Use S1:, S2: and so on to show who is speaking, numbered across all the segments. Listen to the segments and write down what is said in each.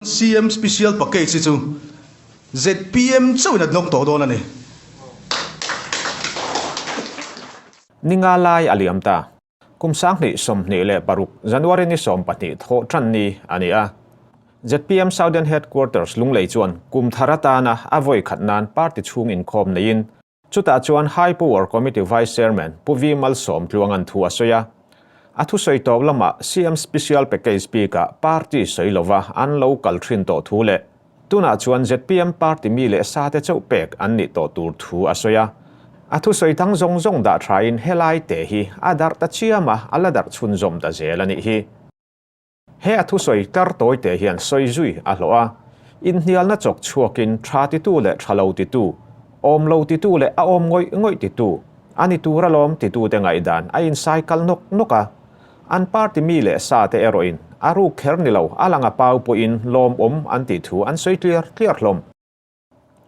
S1: CM Special Package hi chu zpm chauhin a hnawk tawh dawn a ni.
S2: Ni nga lai a liam ta. Kum sanghnih sawmhnih leh paruk, January ni sawm pahnih thawh ṭan ni a ni a. Zpm Southern Headquarters lunglei chuan kum thar atana a vawi khat nan party chhung inkhawm neiin, Chutah chuan High Power Committee Vice Chairman Pu Vimal Sawmtluang an thu a sawi a, a thusawi tawp lamah CM Special Package bikah party sawi lova an lo kal thin tawh thu leh tunah chuan zpm party mi leh sate chauh pek an nih tawh tur thu a sawi a. A thusawi dang zawng zawng dah thain helaite hi a darh ta chiam a, a la darh chhunzawm ta zel a nih hi. He a thusawi tlar tawi te hian sawi zui a hlawh a, inhnialna chawk chhuakin tha titu leh tha lo titu, awm lo titu leh a awm ngawih ngawih titu, a ni tur alawm titute ngaihdan a insai kal nawk nawk a. An party mi leh sa te erawhin a ruk kher ni lo a langa pau pawhin lawmawm an tih thu an sawi tliar tliar hlawm.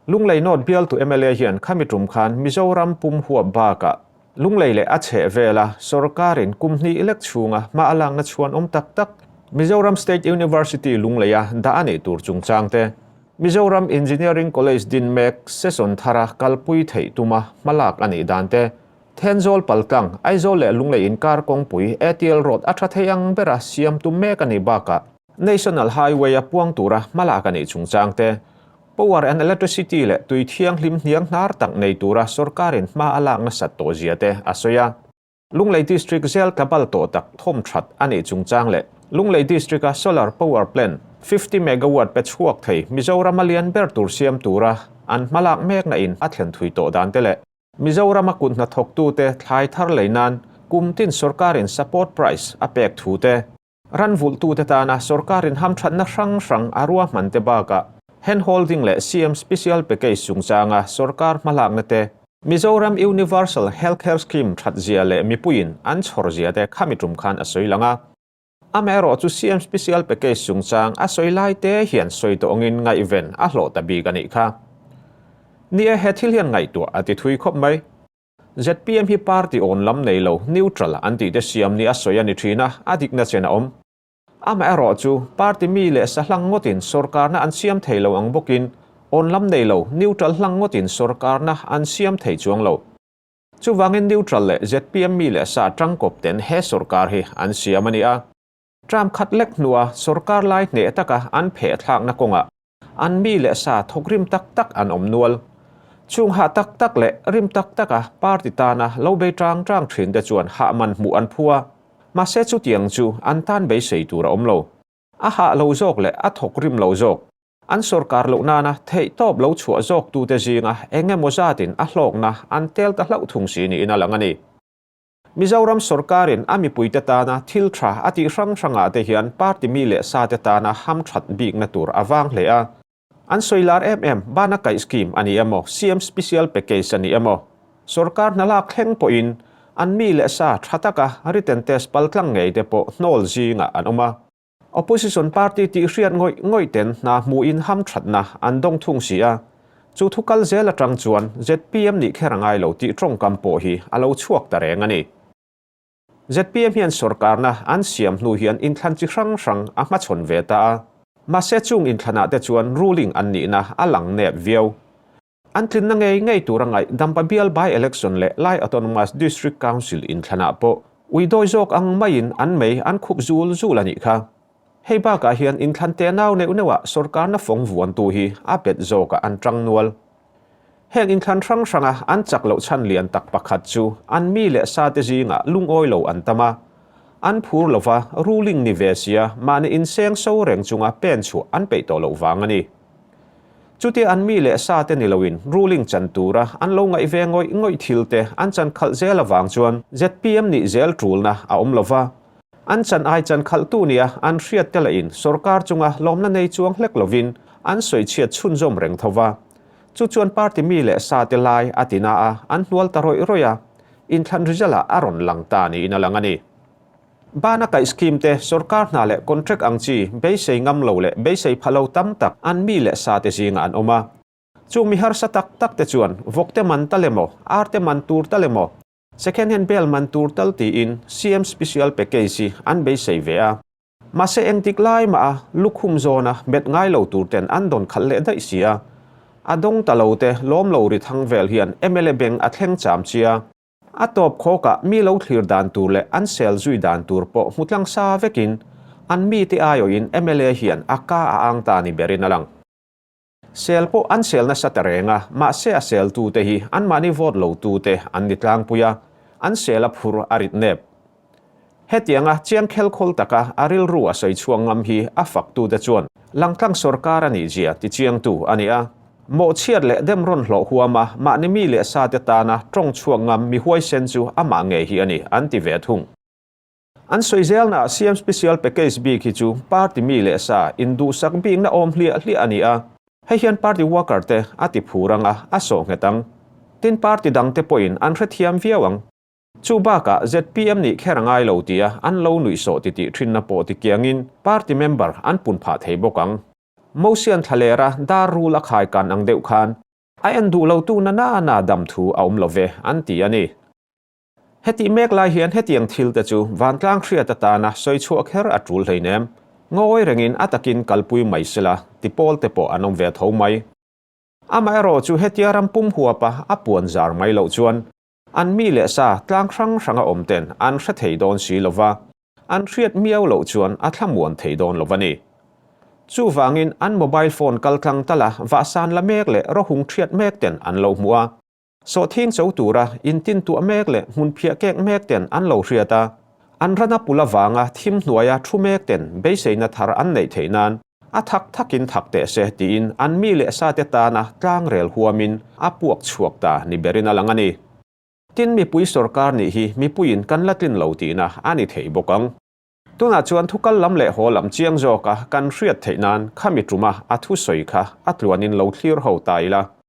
S2: Lunglei nawt bial tu mla hian khami tum khan Mizoram pum huap bakah Lunglei leh a chheh vela sawrkarin kum hnih lek chhunga hma a lakna chhuan awm tak tak, Mizoram State University Lungleia dah a nih tur chungchang te, Mizoram Engineering College Dinmek Seson Thara kalpui theih tuma hma lak a nih dan te, Thenzawl pal tlang, Aizawl leh Lunglei inkar kawngpui, ATL Road a tha thei ang bera siam tum mek a nih bakah, National Highway-a puang tura hmalak a nih chungchang te, Power and Electricity leh Tui Thianghlim hniang hnar tak nei tura sorkarin hma a lak nasat tawh zia te a sawi a. Lunglei District zel tla bal tawh tak thawm that a nih chungchang leh Lunglei District-a Solar Power Plant fifty Megawatt pe chhuak thei Mizoram-a lian ber tur siam tura an hma lak mek nain a thlen thui tawh dan te leh Mizoram-a kut hnathawk tute thlai thar lei nan kum tin sorkarin support price a pek thu te Ranvulhtute tana sorkarin hamthatna hrang hrang a ruahmante bakah Handholding leh CM Special Package chungchanga sorkar hmalakna te, Mizoram Universal Healthcare Scheme thatzia leh mipuiin an chhawrzia te khami tum khan a sawi lang a. Amaherawh chu CM Special Package chungchang a sawi lai te hian sawi tawngin ngaihven a hlawh ta bik a nih kha. Nia he thil hian ngaihtuah a ti thui khawp mai. Zpm hi party awn lam nei lo, neutral, an tih te siam nia sawi a ni thin a, a dikna chen a awm. Amaherawh chu, party mi leh sa hlang ngawtin sorkarna an siam thei lo ang bawkin, awn lam nei lo, neutral, hlang ngawtin sorkarna an siam thei chuang lo. Chuvangin neutral leh zpm mi leh sa tangkawp ten he sorkar hi an siam a ni a. Trump khat lek hnua sorkar lai hneh taka an pheh thlakna kawngah an mi leh sa thawk rim tak tak an awm nual. Chhung hah tak tak leh rim tak taka party tana lo bei tang tang thin te chuan hah man hmuh an phu a, mahse chutiang chu an tan beisei tur a awm lo. A hah lo zawk leh a thawk rim lo zawk, an sorkar loh nana theih tawp lo chhuah zawktu te zinga eng emaw zatin a hlawkna an tel ta hlauh thung si niin a lang a ni. Mizoram sorkarin a mipuite tana thil tha a tih hrang hrangah te hian party mi leh sate tana ham that bikna tur a vang hle a. An sawi lar em em bana kaih scheme a ni emaw, CM special package a ni emaw, sorkar hna lak thleng pawhin an mi leh sa tha taka written test paltlang ngei te pawh hnawl zingah an awm a. Opposition party tih hriat ngawih ngawih ten hna hmuhin hamthatna an dawng thung si a, chu thu kal zel atang chuan zpm nih kher a ngai lo tih tawngkam pawh hi a lo chhuak ta reng a ni. Zpm hian sorkarna an siam hnu hian inthlan chi hrang hrang a hmachhawn ve ta a, mahse chung inthlanah te chuan ruling an nihna a lang nep viau. An tlinna ngei ngei tura ngaih Dampa Bial By-Election leh Lai Autonomous District Council inthlanah pawh ui dawi zawk ang maiin an mei an khup zul zul a nih kha. Hei bakah hian inthlantea nau neuh neuhah sorkarna fawng vuantu hi a bet zawkah an ṭang nual. Heng inthlan hrang hranga an chak loh chhan lian tak pakhat chu an mi leh sate zingah lungawi lo an tam a, an phur lova ruling ni ve sia mahni inseng so reng chunga pen chhuah an peih tawh loh vang a ni. Chutia an mi leh sa te ni loin ruling chan tura an lo ngaih ve ngawih ngawih thil te an chan khalh zel avang chuan zpm nih zel tulna a awm lo va. An chan ai chan khalhtu nia an hriat tel a in sorkar chunga lawmna nei chuang hlek lovin an sawi chhiat chhunzawm reng tho va. Chu chuan party mi leh sa te lai a tina a an hnual ta rawih rawih a, inthlan result ah a rawn lang ta niin a lang a ni. Bana kaih scheme te, sorkar hna leh contract ang chi beisei ngam lo leh beisei pha lo tam tak an mi leh sa te zingah an awm a. Chung mi harsa tak tak te chuan vawk te man ta le maw, ar te man tur ta le maw, second hand bel man tur tal tiin CM special package hi an beisei ve a. Mahse eng dik lai maha lukhum zawna met ngai lo tur ten an dawn khalh leh daih si a. A dawng ta lo te lawm lo ri thang vel hian mla beng a thleng cham chi a. A tawp khawkah mi lo thlir dan tur leh an sel zui dan tur pawh hmu tlang sa vekin an mite aiawhin mla hian a ka a ang ta ni berin a lang. Sel pawh an sel nasa ta reng a, mahse a seltute hi anmahni vote lotute an ni tlangpui a, an sel a phur a rit nep. Hetianga chiang khelkhawl taka a rilru a sawi chhuang ngam hi a faktute chuan Langtlang sorkar a nih zia tichiangtu a ni a. Mawhchhiat leh dem rawn hlawh huama mahni mi leh sate tana tawng chhuak ngam mi huaisen chu amah ngei hi a ni an ti ve thung. An sawi zelnaah siam special package bik hi chu party mi leh sa induhsak bikna awm hliah hliah a ni a, hei hian party worker te a ti phur anga a sawhnghet ang. Tin party dangte pawhin an hrethiam viau ang. Chu bakah zpm nih kher a ngai lo tia an lo nuih sawh titih thinna pawh ti kiangin party member an pun phah thei bawk ang. Motion thla ler a dar rule a khai kan ang deuh khan a en duh lo tu nana na dam thu a awm lo ve an ti a ni. Hetih mek lai hian hetiang thil te chu vantlang hriat atana sawi chhuah kher a tul hlein em? Ngawi rengin a takin kalpui mai sela ti pawl te pawh an awm ve tho mai. Amaherawhchu hetia ram pum huapa a puan zar mai loh chuan An mi leh sa tlang hrang hranga awm ten an hre thei dawn si lo va, an hriat miau loh chuan a thlamuan thei dawn lo va ni. Chuvangin an mobile phone kal tlang ta la vahsan la mek leh rohung thiat mek ten an lo hmu a, sawhthing cho tura intintuah mek leh hmunphiah kek mek ten an lo hriat a, An rana pula vanga thim hnuaia thu mek ten beiseina thar an neih theih nan a thak thakin thak teh se tiin an mi leh sa te tana tlang rel huamin a puak chhuak ta ni berin a lang a ni. Tin, mipui sorkar nih hi mipuiin kan la tlin lo tihna a ni thei bawk ang. Tunah chuan thu kal lam leh haw lam chiang zawka kan hriat theih nan khami ṭuma a thusawi kha a tluanin lo thlir ho ta ila.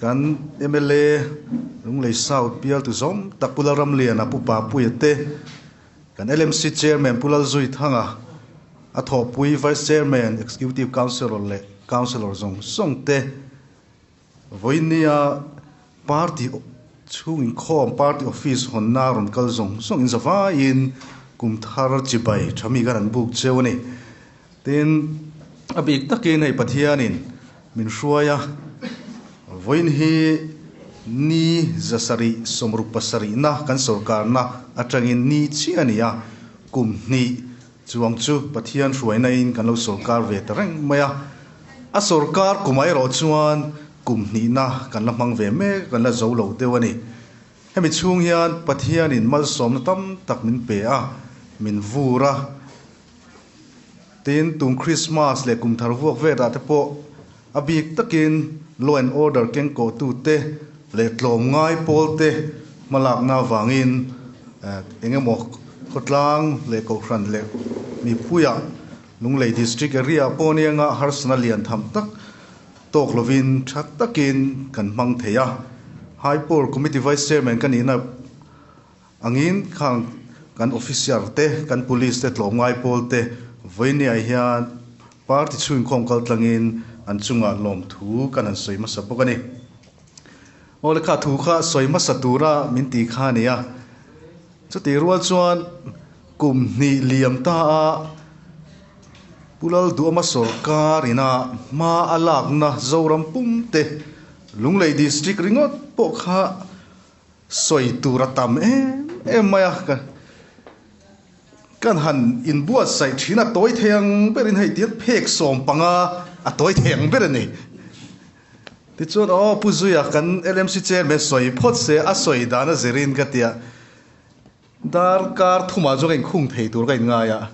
S1: Kan mla Lunglei South bialtu zawng tak Pu Lalramliana, Pu Papuia te, kan LMC Chairman Pu Lalzui Thanga, a thawhpui Vice Chairman, Executive Councillor leh Councillor zawng zawng te, Vawinia party chhung inkhawm, party office hawnna a rawn kal zawng zawngin zavaiin kum thar chibai tha mi khan an buk cheu a ni. Tin, a bik takin hei Pathianin min hruai a, vawiin hi ni zasarih sawmruk pasarihna kan sorkarna atangin ni chiah nia kum hnih chuang chu Pathian hruainain kan lo sorkar ve ta reng mai a. A sorkar kumah erawh chuan kum hnihna kan la hmang ve mek, kan la zo lo deuh a ni. Hemi chhung hian Pathianin malsawmna tam tak min pe a, min vur a, Tin, tum Krismas leh kum thar vuak vetah te pawh a bik takin law and order keng kohhtute leh tlawm ngai pawlte hma lakna avangin eng emaw khawtlang leh kohhran leh mipuiah Lunglei District area pawh anianga harsatna lian tham tak tawk lovin tha takin kan hmang thei a. High Power Committee Vice Chairman ka nihna. Angin khang kan officer te, kan police te tlawmngai pawl te vawinia hian party chhungin khawm kal tlangin an chungah lawmthu kan han sawi hmasa bawk a ni. Aw le kha thu kha sawi hmasa tura min ti kha a nia. Chutih rual chuan kum hnih liam ta a Pu Lalduama sawrkar ina hma a lakna Zoram pum te, Lunglei district ringawt pawh kha Sawi tura tam em em mai a, ka kan han in buatsaih thin a tawi thei ang ber in hei tiang phek sawm panga a tawi thei ang ber a ni. Tichuan aw Pu Zuia kan LMC Chairman sawi phawt se a sawi dan a zir in ka ti a. Dar kar thumah chu ka inkhung thei tur ka inngai a,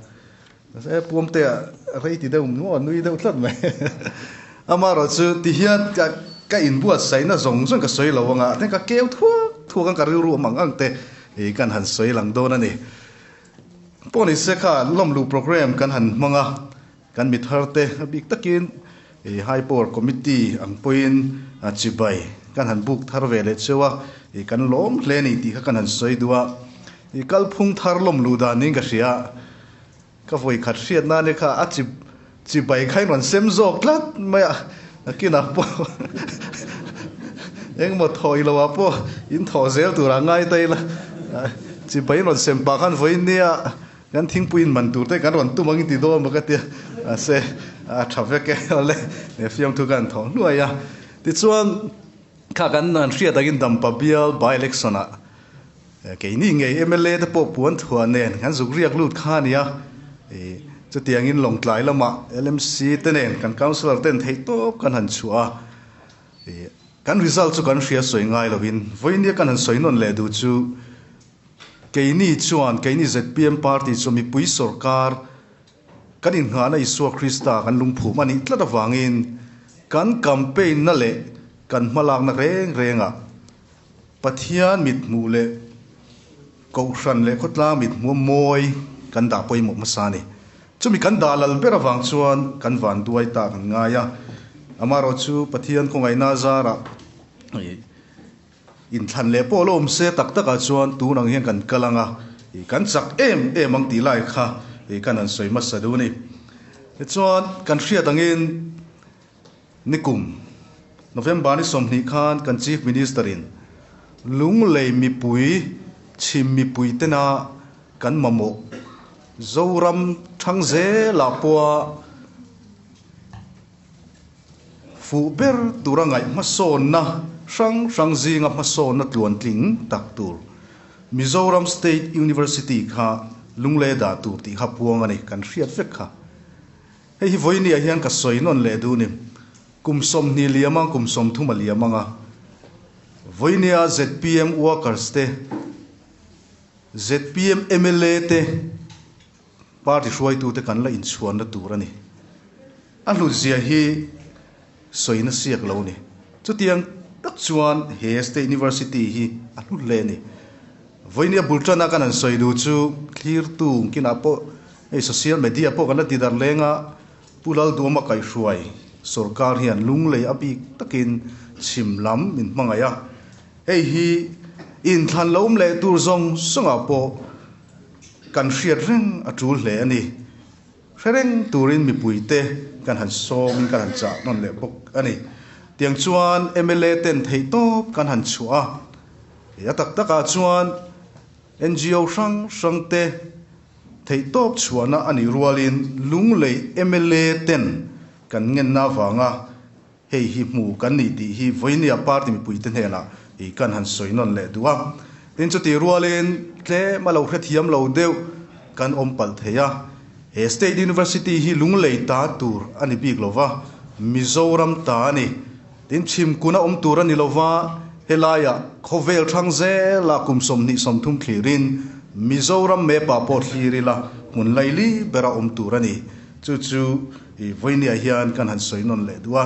S1: e Puamtea rei ti deuh maw, nui deuh tlat mai amaherawh chu tihian ka ka inbuatsaihna zawng zawng ka sawi lo ang a, then ka keu thuak thuak ang ka rilru ang ang ang te hi kan han sawi lang dawn a ni. Pawhnise kha lawmlu programme kan han hmang a. Kan mithar te bik takin i High Power Committee ang pawhin chibai kan han buk thar ve leh cheu a, i kan lawm hle ni tih kha kan han sawi duh a, i kalphung thar lawm luh dan niin ka hria, ka vawi khat hriat nan e kha a chi chibai kha in rawn sem zawk tlat mai a, a kinah pawh engmaw thaw ilo ah pawh in thaw zel tur ah ngai ta ila chibai in rawn sem pah khan vawi nia Kan thingpui inban tur te kan rawn tum ang i ti dawn bawk a tia, mahse a tha vek e, awle he fiamthu kha an thawh hnuai a. Tichuan, kha kan han hriat angin dampa bial by-election ah keini ngei mla te pawh puanthuah nen kan zuk riak lut kha a nia, chutiangin Lawngtlai lamah LMC te nen kan councillor ten theih tawp kan han chhuah a, kan result chu kan hria sawi ngai lovin, vawinia kan han sawi nawn leh duh chu, Keini chuan keini zpm party chu mipui sorkar kan innghahna Isua Krista kan lungphum a nih tlat avangin kan campaign na leh kan hmalakna reng rengah Pathian mithmuh leh Kohhran leh khawtlang mithmuh a mawi kan dah pawimawh hmasa a ni. Chumi kan dah lal ber avang chuan kan vanduai ta kan ngai a, amaherawhchu Pathian khawngaihna zarah Inthlan leh pawh alawm se tak takah chuan tun ang hian kan kal ang a, kan chak em em ang tih lai kha kan han sawi hmasa duh a ni. Tichuan kan hriat angin nikum November ni sawmhnih khan kan Chief Minister in Lunglei mipui, chhim mipui tena kan mamawh Zoram thang zela pawha, fuh ber tura ngaih hmasawnna hrang hrang zinga hmasawnna tluan tling tak tur Mizoram State University kha lunglei dah tur tih kha puang a ni kan hriat vek kha. Hei hi vawinia hian ka sawi nawn leh dun i kum sawmhnih liam ang kum sawmthum a liam anga vawinia zpm workers te zpm mla te, Party hruaitute kan la inchhuanna tur a ni. A hlutzia hi sawi nasiak lo ni. Chutiang tak chuan he State University hi a hlu hle ni. Vawiin a bul tana kan han sawi duh chu thlirtu kinah pawh hei social media pawh kan la ti dar leng a, Pu Lalduama kaihhruai sawrkar hian lunglei a bik takin chhim lam min hmangaih a. Hei hi inthlan la awm leh tur zawng zawngah pawh, Kan hriat reng a tul hle a ni. Hre reng turin mipui te kan han sawmin kan han chah nawn leh bawk a ni. Tiang chuan mla ten theih tawp kan han chhuah a. Kei a tak takah chuan NGO hrang hrang te theih tawp chhuahna a nih rualin Lunglei mla ten kan ngenna avanga hei hi hmu kan nih tih hi Vawihnia party mipui te hnena i kan han sawi nawn leh duh a, tin chuti rualin tlem a lo hrethiam lo deuh kan awm palh thei a, he state university hi lunglei ta tur a ni bik lo va, Mizoram ta a ni, tin chhim kun a awm tur a ni lo va, helaia khawvel thang zela kum sawm hnih sawm thum thlirin Mizoram map-ah pawh thlir ila hmun laili bera awm tur a ni, chu chu. I vawinia hian kan han sawi nawn leh duh a,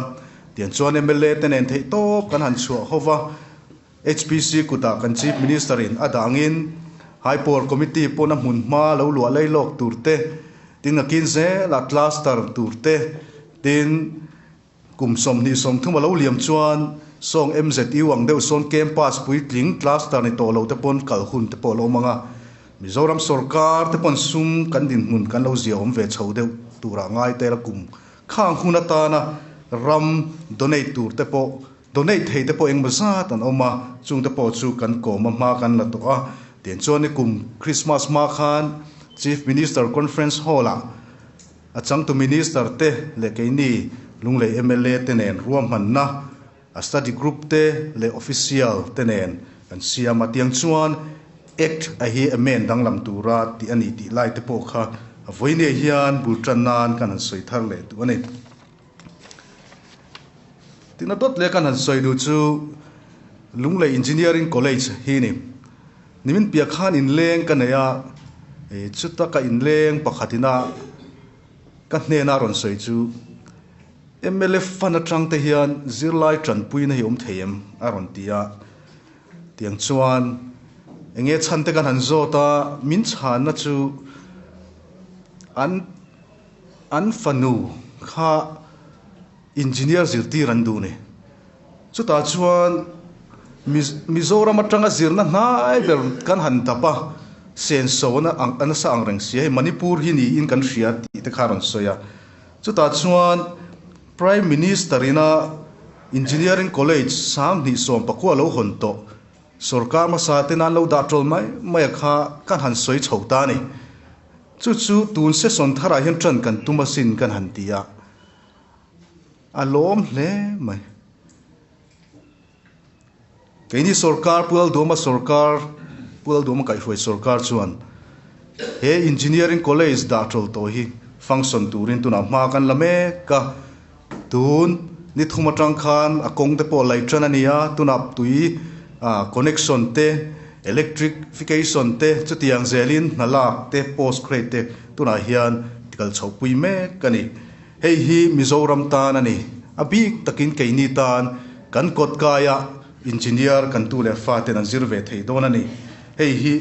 S1: tiang chuan mla te nen theih tawp kan han chhuah ho va, HPC kutah kan Chief Minister in a dangin Hypor Committee pawna hmun hma lo luah lei lawk tur te, tin ngakin zel a cluster tur te, tin kum sawmhnih sawmthum a lo liam chuan sawng MZU ang deuh sawn campus puitling cluster ni tawh lo te pawn kal hun te pawh a lo awm ang a. Mizoram sawrkar te pawn sum kan dinhmun kan lo zia awm ve chho deuh turah ngai tel a kum kha ang hun atana ram donate tur te pawh donate thei te pawh engmaw zat an awm a chung te pawh chu kan kawm a hma kan la tawh a tiang chuan ni kum Christmas hma khan Chief Minister Conference Hall ah a changtu Minister te leh keini lunglei MLA te nen ruahmanna A study group te leh official te nen kan siam a tiang chuan act a hi a men danglam tur a tih a ni tih lai te pawh kha Vawinia hian bul tan nan kan han sawi thar leh duh a ni. Tihna dawt leh kan han sawi duh chu Lunglei Engineering College hi ni. Nimin piah khan in leng ka nei a, chuta ka in leng pakhat ina ka hnena rawn sawi chu, Mlf fan atang te hian zirlai tanpuina hi awm thei em? a rawn ti a, tiang chuan enge chhan te kan han zawt a, min chhanna chu an an fanu kha engineer zirtir an duh ni. Chutah chuan Mizoram atanga zirna hnai ber kan han dap a, senso a nasa ang reng sia, hei Manipur hi niin kan hria tih te kha a rawn sawi a. Chutah chuan Prime Minister ina Engineering College sang hnihsawm pakua lo hawn tawh sawrkar hmasa te nan lo dah tawl mai mai a kha kan han sawi chho ta a ni. Chu chu tun session thar ah hian tan kan tum asin kan han ti a, a lawm hle mai. Keini sorkar, Pueldawma sorkar, Pueldawma kaihhruai sorkar chuan he Engineering College dah tawl tawh hi function turin tunah hma kan la mek a. Tun ni thum atang khan a kawngte pawh lei tan a ni a, tunah tui connection te, electrification te, chutiang zelin hnalak te, post grade te tunah hian tikal chhoh pui mek a ni. Hei hi Mizoram tan a ni. A bik takin keini tan kan kawt kaia Engineer kan tu leh fa ten an zir ve thei dawn a ni. Hei hi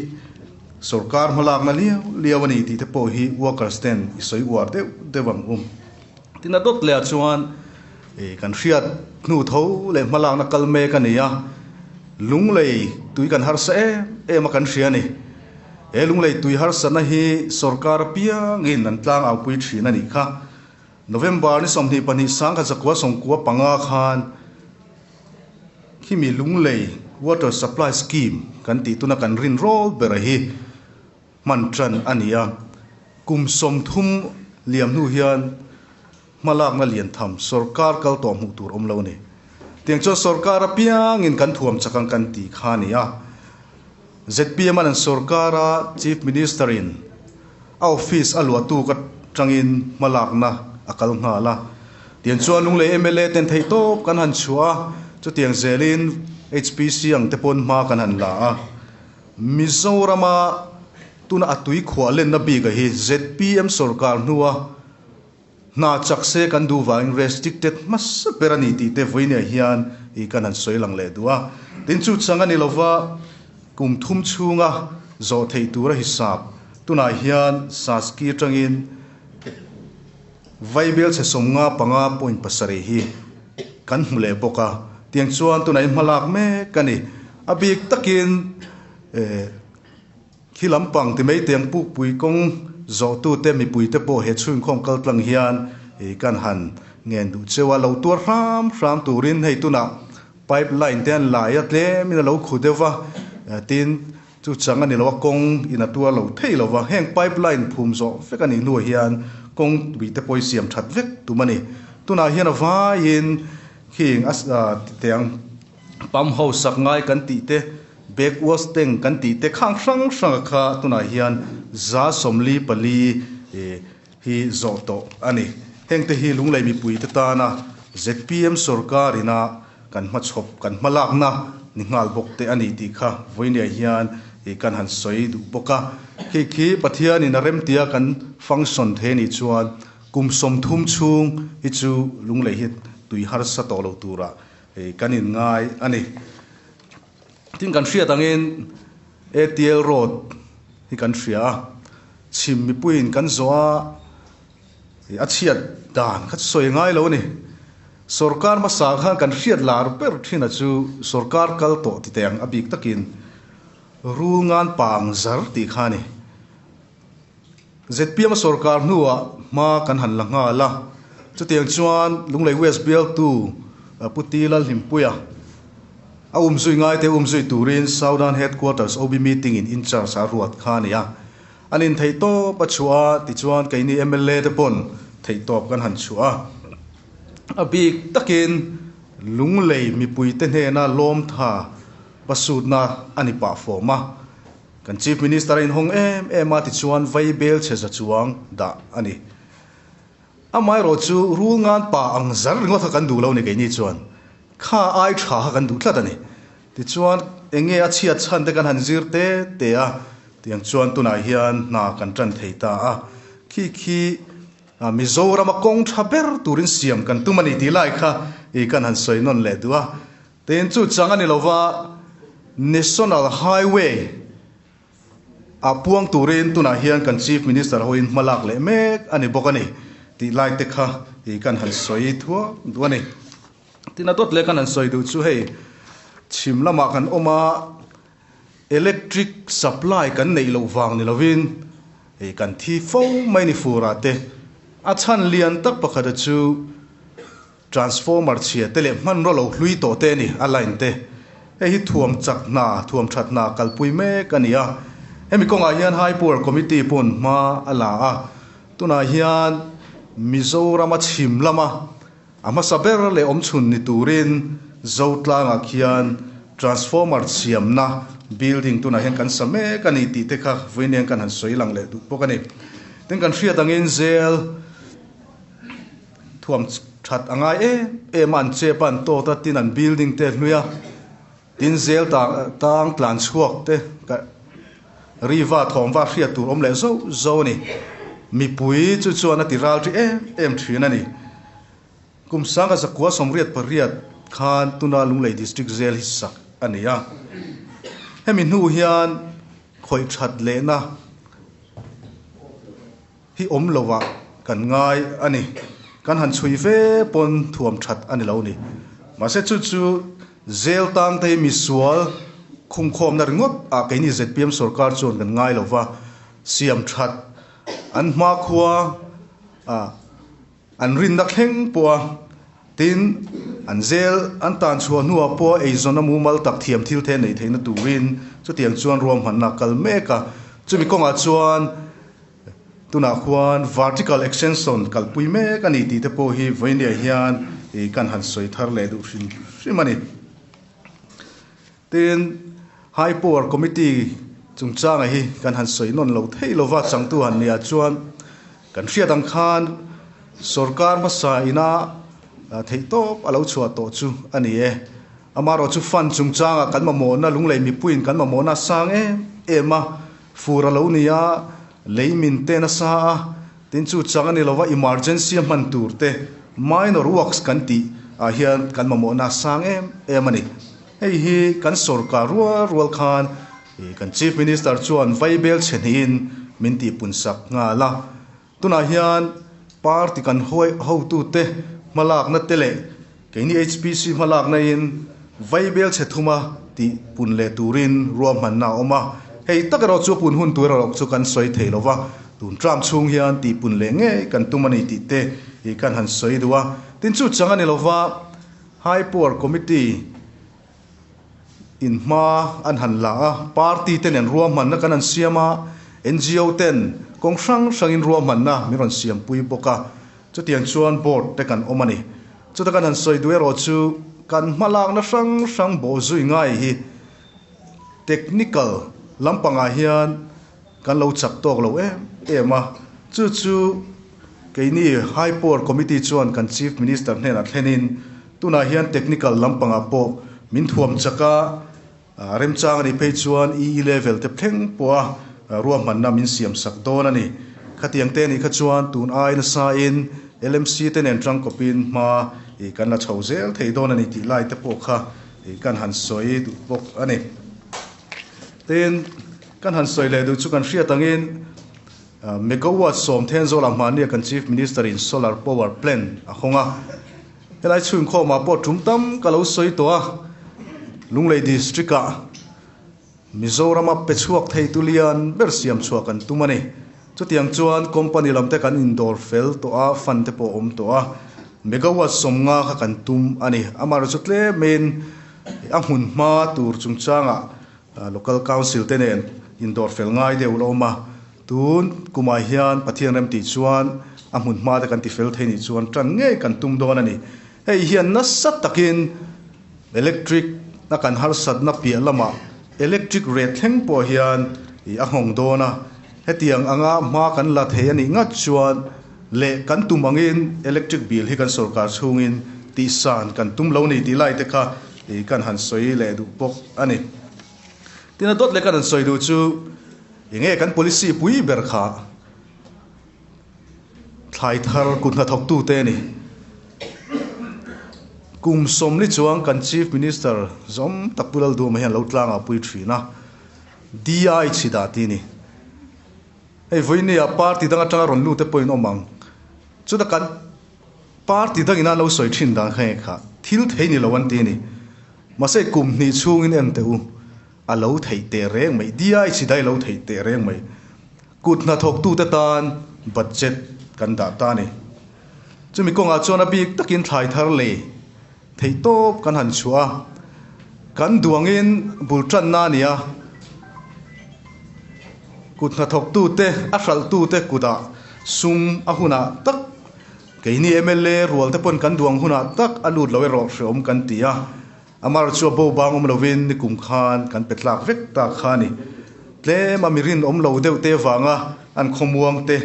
S1: sorkar hmalakna liau liau a ni tih te pawh hi workers ten i sawi uar deuh deuh ang um. Tin a dawt lehah chuan ih kan hriat hnu tho leh hmalakna kal mek a ni a, lunglei tui kan harsa em em a kan hria a ni. He lunglei tui harsatna hi sorkar apiangin an tlang aupui thin a nih kha. November ni sawmhnih pahnih sangkhat zakua sawmkua panga khan khimi lunglei water supply scheme kan tih tuna kan rin rawl bera hi hman tan a nia. Kum sawmthum liam hnu hian. Hma lakna lian tham sorkar kal tawh hmuh tur awm lo ni. Tiang chuan sorkar apiang in kan thuam chak ang kan tih kha ni a. Zpm a lan sorkar a Chief Minister in a office a luah tuk atang in hma lakna a kal nghal a. Tiang chuan Lunglei mla ten theih tawp kan han chhuah a, chutiang zel in HPC ang te pawn hma kan han la a. Mizoram a tuna a tuikhuah lenna bik a hi zpm sorkar hnu a Hna chak se kan duh vangin race dik tet hmasa ber a ni tih te vawi neiah hian i kan han sawi lang leh duh a. Tin, chu chang a ni lo va, kum thum chhunga zawh theih tura hi sap. Tunah hian Saski atangin Vaibel chhe sawm nga panga point pasarih hi kan hmu leh bawk a, tiang chuan tunah i hmalak mek a ni. A bik takin. Khi lampang ti mai tiang pukpui kawng zawhtute mipuite pawh he chhungkhawm kaltlang hian ih kan han ngen duh cheu a, lo tuar hram hram turin hei tunah pipe line te an laia tlemin a lo khu deuh a, tin chu chang a ni lo a, kawng in a tuar lo thei lo va, heng pipe line phum zawh vek a nih hnuah hian kawngpui te pawh i siam that vek tum a ni, tunah hian a vaiin khi eng a ti tiang. Pump ho sak ngai kan tih te, back wash teng kan tih te khang hrang hranga kha tunah hian za sawmli pali hi zawh tawh a ni. Heng te hi lunglei mipui te tana zpm sawrkar ina kan hma chhawp, kan hma lakna ni nghal bawk te a ni tih kha Vawinia hian kan han sawi duh bawk a. Khi khi Pathian in a remtia kan function thei a nih chuan kum sawmthum chhung hi chu lunglei hi tui harsa tawh lo turah Hei kan in ngai a ni. Tin kan hriat angin ATL road hi kan hria a, chhim mipuiin kan zawh a, a chhiat dan kha chu sawi ngai lo a ni. Sorkar hmasa khan kan hriat lar ber thinah chu sorkar kal tawh titeng a bik takin rul ngan pang zar tih kha a ni. Zpm sawrkar hnuah hma kan han la nghal a, chutiang chuan Lunglei West bialtu Pu Ti Lal Hlimpuia a um zui ngaite um zui turin Saudan Headquarters OB Meeting in Incharge a ruat kha a ni a, an intheih tawp a chhuah a, tichuan keini mla te pawn theih tawp kan han chhuah a. A bik takin Lunglei mipuite hnena lawmtha pasutna a ni pah fawm a, Kan Chief Minister a inhawng em em a tichuan vei bel chhe za chuang dah a ni. Amaherawh chu rul ngan pa ang zar ringawt kha kan duh lo ni keini chuan kha ai tha kha kan duh tlat a ni. Tichuan enge a chhiat chhan te kan han zir te te a tiang chuan tunah hian hna kan tan thei ta a. Khi khi Mizoram a kawng tha ber turin siam kan tum a ni tih lai kha kan han sawi nawn leh duh a. Tin, chu chang a ni lo va, National Highway ah puang turin tunah hian kan Chief Minister ho in hmalak leh mek a ni bawk a ni tih lai te kha hi kan han sawi thuak duh a ni. Tin, a dawt leh kan han sawi duh chu hei chhim lamah kan awm a, electric supply kan neih loh vang ni lovin hei kan thi fo mai a ni fur ah te. A chhan lian tak pakhata chu, Transformer chhia te leh hmanraw lo hlui tawh te a ni a line te. Hei hi thuam chak hna, thuam that hna kalpui mek a ni a. Hemi kawngah hian High Power Committee pawn hma a la a. Tunah hian Mizorama chhim lama a hmasa ber leh awm chhun ni turin Zotlangah khian Transformer chhiamna building tunah hian kan sa mek a ni tih te kha vawiiniang kan han sawi lang leh duh bawk a ni. Tin kan hriat angin zêl. Thuam that a ngai em em a an chep a, an tawt a, tin an building te a hlui a, tin zel tang tang tlan chhuak te ka ri va thawm va hriat tur awm leh zo zo a ni. Mipui chu chuan a ti ral ṭi em em ṭhin a ni. Kum sanga zakua sawmriat pariat khan tuna Lunglei District Jail hi sak a ni a, hemi hnu hian khawih that lehna, hi awm lo vah kan ngai a ni kan han chhui fe pawn thuam that a ni lo ni mahse chu chu zêl tâng te hi misual khum khawm na ringawt ah keini zpm sawrkar chuan kan ngai lo va siam that an hma khua ah an rin na thleng pawh a tin an zêl an tân chhuah hnu ah pawh eizawn a mumal tak thiam thil the nei theih na turin chutiang chuan ruam hman na kal mek a chu mi kawng ah chuan Tunah khuan vertical extension kalhpui mek a ni tih te pawh hi vawinia hian ih kan han sawi thar leh duh hrim hrim a ni. Tin, High Power Committee chungchanga hi kan han sawi nawn lo thei lo va, changtu han nih ah chuan kan hriat ang khan sorkar hmasa ina theihtawp a lo chhuah tawh chu a ni e. Amaherawhchu fund chungchanga kan mamawhna, lunglei mipuiin kan mamawhna a sang em em a, Fur a lo ni a, lei min te nasa a, tin chu chang a ni lova emergency a hman tur te, minor works kan tih ah hian kan mamawhna a sang em em a ni. Hei hi kan sawrkar rual rual khan kan Chief Minister chuan vaibel chhe hnihin min tih punsak nghal a. Tunah hian party kan huai hotute hmalakna te leh keini HPC hmalaknain vaibel chhe thum a tih pun leh turin ruahmanna a awm a, hei tak erawh chu pun hun tur erawh chu kan sawi thei lo va, tun tlam chhung hian tih pun leh ngei kan tum a ni tih te hi kan han sawi duh a. Tin chu chang a ni lo va, High Power Committee in hma an han la a, party te nen ruahmanna kan han siam a, NGO ten kawng hrang hrangin ruahmanna min rawn siam pui bawk a, chutiang chuan board te kan awm a ni. Chuta kan han sawi duh erawh chu kan hmalakna hrang hrang bawh zui ngai hi technical lampangah hian kan lo chak tawk lo em em a, chu chu. Keini High Power Committee chuan kan Chief Minister hnenah thlenin tunah hian technical lampangah pawh min thuam chak a, remchang a nih phei chuan i level te thleng pawha ruahmanna min siam sak dawn a ni. Khatiang te anih kha chuan tun ai nasa in LMC te nen tangkawpin hma kan la chho zel thei dawn a ni tih lai te pawh kha kan han sawi duh bawk a ni. Tiin kan han sawi leh duh chu kan hriat angin, Megawatt Sawmthen Zawlah Hmahnia kan Chief Minister in Solar Power Plant a hawng a, helai chhunkhawm ah pawh tum tam ka lo sawi tawh a, Lunglei District ah Mizoram a pe chhuak thei tu lian ber siam chhuah kan tum a ni, chutiang chuan company lam te kan in dawr fel tawh a, fund te pawh awm tawh a, Megawatt sawmnga kha kan tum a ni, amah erawh chu tlem in a hmun hma tur chungchang ah Local Council te nen indawr fel ngai deuh la awm a, tun kumah hian Pathian rem tih chuan a hmun hma te kan ti fel thei nih chuan tan ngei kan tum dawn a ni. Hei hian nasa takin electric a kan harsatna piah lamah electric ret thleng pawh hian ih a nghawng dawn a, hetiang anga hma kan la thei a nih ngat chuan leh kan tum angin electric bill hi kan sorkar chhungin tihsan kan tum lo ni tih lai te kha Tih kan han sawi leh duh bawk a ni. Tina dawt leh kan han sawi duh chu i nge kan policy pui ber kha thlai thar kut hna thawk tu te a ni. Kum sawm ni chuang kan Chief Minister zawm tak Pu Lalduama hian lo tlang a pui thin a, Dia i chhi dah ti ni. Hei vawinia party dang atanga rawn lu te pawhin awm ang. Chutah kan. Party dangin a lo sawi thin dan kha nge kha, thil thei ni lo an ti a ni. Mahse kum hnih chhungin en teh u, a lo theih teh reng mai, DIHC dai a lo theih teh reng mai. Kut hnathawktute tan budget kan dah ta a ni. Chumi kawngah chuan a bik takin thlai thar lei. Theih tawp kan han chhuah a, kan duangin bul tanna a ni a, kut hnathawktute, a hralhtute kutah sum a hunah tak, keini mla rualte pawn kan duang hunah tak a lut lo erawh hreawm kan ti a, Amar chu a bo bangawm lovin ni kum khan kan pe tlak vek ta kha a ni. Tlem a mi rinawm lo deuhte vanga an khawmuangte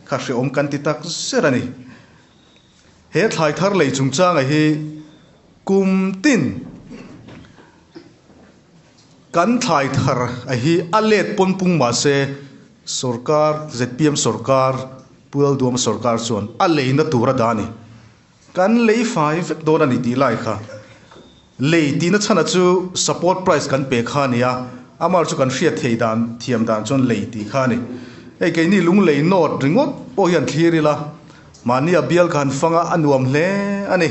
S1: kha hreawm kan ti tak zet a ni. He thlai thar lei chungchanga hi kum tin kan thlai thar a hi a let pawn pung mahse sorkar zpm sorkar pualduam sorkar chuan a leina tura da a ni. Kan lei fai vek dawn a ni tih lai kha Lei tihna chhana chu support price kan pe kha a ni a, amar chu kan hriat theih dan thiam dan chuan lei tih kha a ni. Hei keini lunglei note ringawt pawh hi an thlir ila, mahni a bial kha han fang a, a nuam hle a ni.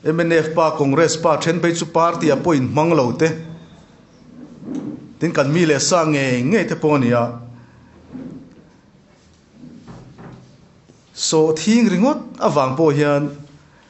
S1: Mnf pa, Congress pa then phei chu party a pawh inhmang lo te, tin kan mi leh sa ngei ngei te pawh a ni a, sawhthing ringawt avang pawh hian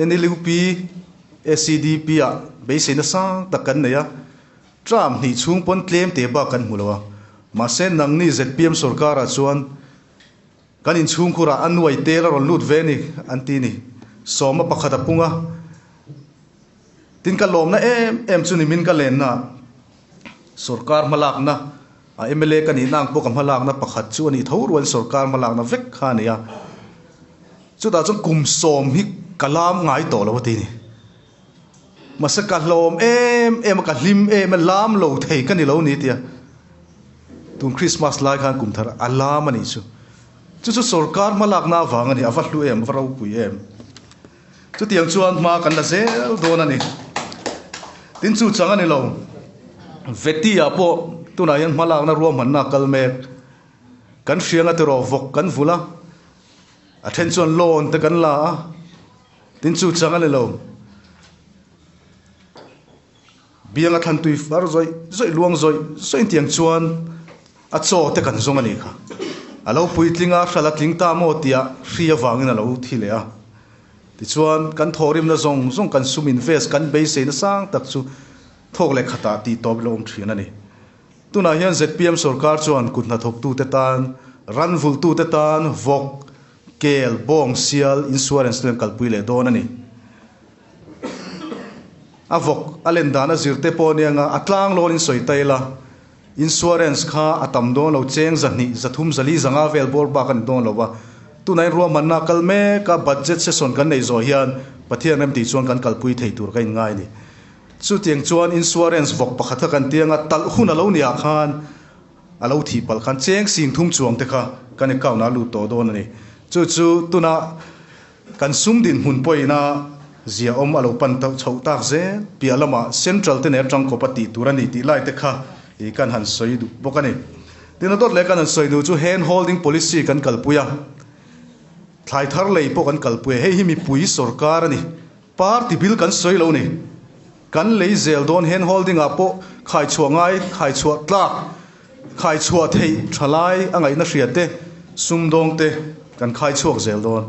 S1: NLUP, SCDP-a beisei nasang tak kan nei a, Trump hnih chhung pawn tlem teh bak kan hmu lo a, mahse nangni zpm sorkara chuan kan inchhungkhurah a nuai tel a rawn lut ve ani an ti ni, sawma pakhat a pung a, tin ka lawmna em em chu nimin ka lenna. Sorkar hmalakna, a mla ka nihna ang pawh ka hmalakna pakhat chu a nih tho rual sorkar hmalakna vek kha a ni a. Chutah chuan kum sawm hi ka lam ngai tawh lo a ti a ni. Mahse ka hlawm em em a, ka hlim em em a, lam lo thei ka ni lo a ni tia. Tun Krismas lai khan kum thar a lam a nih chu. Chu chu sorkar hmalakna avang a ni, a va hlu em, a va ropui em. Chutiang chuan hma kan la zel dawn a ni. Tin chu chang a ni lo. Vetiah pawh tunah hian hma lakna ruahmanna a kal mek. Kan hrianga terawh vawk kan vulh a, a then chuan loan te kan la a, tin chu chang a ni lo. Bianga thlantui far zawih zawih luang zawih zawih tiang chuan a chaw te kan zawng a ni kha. A lo puitling a, hral a tling ta maw tia hri avangin a lo thi leh a. Tichuan, kan thawhrimna zawng zawng kan sum invest, kan beisei nasang tak chu thawk leh khatah tih tawp ila awm thin a ni. Tunah hian zpm sorkar chuan kut hnathawktute tan, ranvulhtute tan vawk, Kel, Bawng sial insurance len kalpui leh dawn a ni. A vawk a len dan a zir te pawh anianga a tlang lawn in sawi ta ila, insurance kha a tam dawn lo, cheng za hnih, za thum, za li, za nga vel bawr bak a ni dawn lo va. Tunah in ruahmanna a kal mek a, budget session kan nei zawh hian Pathian rem tih chuan kan kalpui thei tur ka inngai a ni. Chutiang chuan insurance vawk pakhat kha kan tianga talh hun a lo nia khan, A lo thih palh khan cheng sing thum chuang te kha kan account ah a lut tawh dawn a ni. Chu chu tuna kan sum dinhmun pawina zia awm a lo pan tawh chhoh tak zel. Piah lama Central te nen atang kawpa tih tur a nih tih lai te kha i kan han sawi duh bawk a ni. Tin a dawt leh kan han sawi duh chu hand holding policy kan kalpui a, thlai thar lei pawh kan kalpui a, hei hi mipui sorkar a ni. Party bil kan sawi lo ni. Kan lei zel dawn handholding ah pawh khaichhuah ngai, khaichhuah tlak, khaichhuah theih tha lai a ngaihna hria te, sumdawng te kan khaichhuak zel dawn.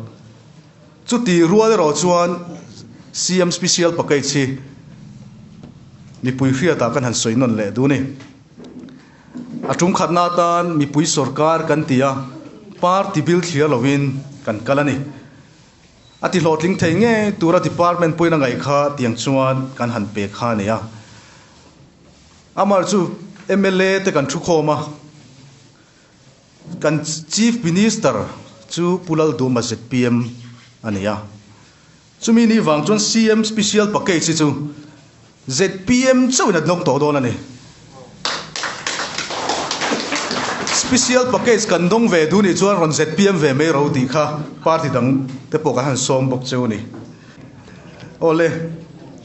S1: Chuti rual erawh chuan CM Special Package hi mipui hriat ah kan han sawi nawn leh duh ni. A tumkhatna atan mipui sorkar kan ti a, party bil thliar lo in kan kal a ni. A tihlawhtling thei ngei tura department puina ngaih kha tiang chuan kan han pe kha a nia. Amar chu mla te kan thu khawm a, kan chief minister chu Pu Lalduma zpm a nia. Chumi ni vang chuan CM special package hi chu, ZPM chauh in a hnawk tawh dawn a ni. Special package kan dawng ve duh nih chuan rawn ZPM ve mai ro tih kha party dang te pawh kan han sawm bawk cheu a ni. Aw le,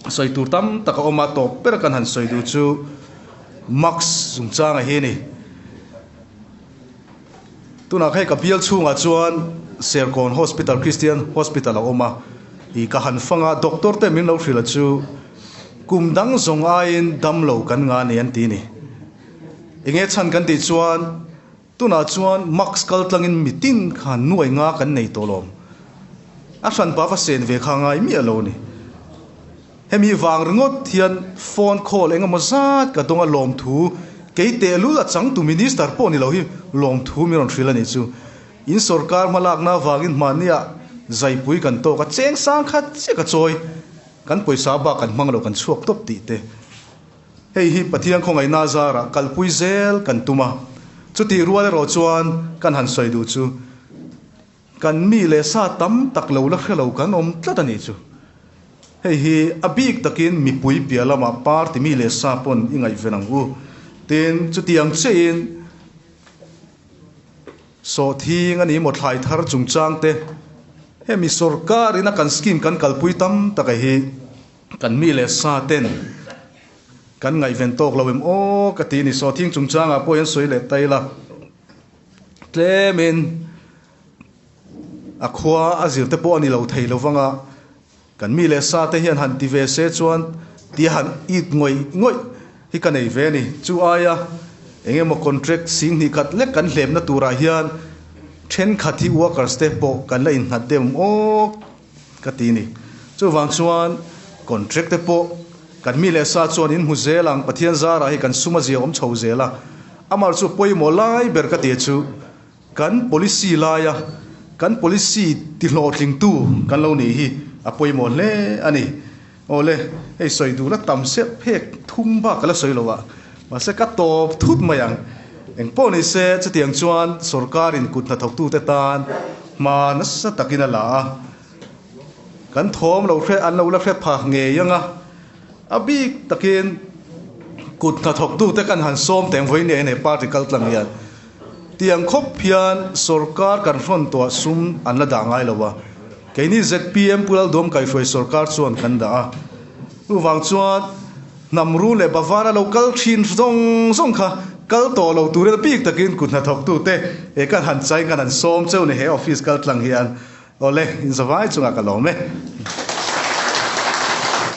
S1: sawi tur tam tak a awm a, tawp ber kan han sawi duh chu Marx zung chang a hi a ni. Tunah kha hei ka bial chhungah chuan Serkawn Hospital, Christian Hospital a awm a, ih ka han fang a, doctor te min lo hrilh a chu kum dang zawng aiin dam lo kan nga a ni an ti ni. Enge chhan kan tih chuan tunah chuan mask kal tlangin mitin kha nuai nga kan nei tawh lawm. A hran pava sen ve kha a ngai miah lo a ni. Hemi vang ringawt hian phone call engemaw zat ka dawnga lawmthu kei tehlul a chang tu minister pawh ni lo hi lawmthu min rawn hril a nih chu. In sorkar hma lakna avangin hmahnia zaipui kan tawk a, cheng sang khat chiah ka chawi, kan pawisa bak kan hmang lo kan chhuak tawp tih te. Hei hi Pathian khawngaihna zarah kalpui zel kan tum a, chutih rual erawh chuan kan han sawi duh chu. Kan mi leh sa tam tak lo la hre lo kan awm tlat a nih chu. Hei hi a bik takin mipui piah lama party mi leh sa pawn i ngaihven ang u. Tin, chutiang cheiin sawhthing a nih maw thlai thar chungchang te, hemi sorkar in a kan scheme kan kalpui tam taka hi kan mi leh sa ten kan ngaihven tawk lo em aw ka ti a ni. Sawhthing chungchang ah pawh hian sawi leh ta ila. Tlemin a khua a zir te pawh a ni lo thei lo vang a, kan mi leh sa te hian han ti ve se chuan tia han it ngawih ngawih hi ka nei ve a ni. Chu aia eng emaw contract sing hnih khat lek kan hlepna turah hian thenkhat hi workers te pawh kan la innghat deuh awk. ka ti ni. Chuvang chuan contract te pawh kan mi leh sa chuan in hmu zel ang, Pathian zarah hi kan suma zia awm chho zel a. Amar chu pawimawh lai ber ka ti chu kan policy laia kan policy tihlawhtling tu kan lo nih hi a pawimawh hle a ni. Awle, hei sawi duh la tam serh phek thum bak ka la sawi lo a, mahse ka tawp thut mai ang. Engpawh ni se, chutiang chuan sorkarin kut hnathawk tu te tan hma nasa takin a la a, kan thawm lo hre, an lo la hre phah ngei ang a. A bik takin kut hnathawk tu te kan han sawm tengvawi nge e nei party kal tlang hian. Tiang khawp hian sorkar kan hrawntuah sum an la dah ngai lo a, keini zpm Pu Laldawm kaihruai sorkar chuan kan dah a, chuvang chuan hnamru leh bavana lo kal thin zawng zawng kha kal tawh lo tur rel bik takin kut hnathawk tu te e kan han chain kan han sawm cheu ni he office kaltlang hian awle inzavai chungah ka lawm e.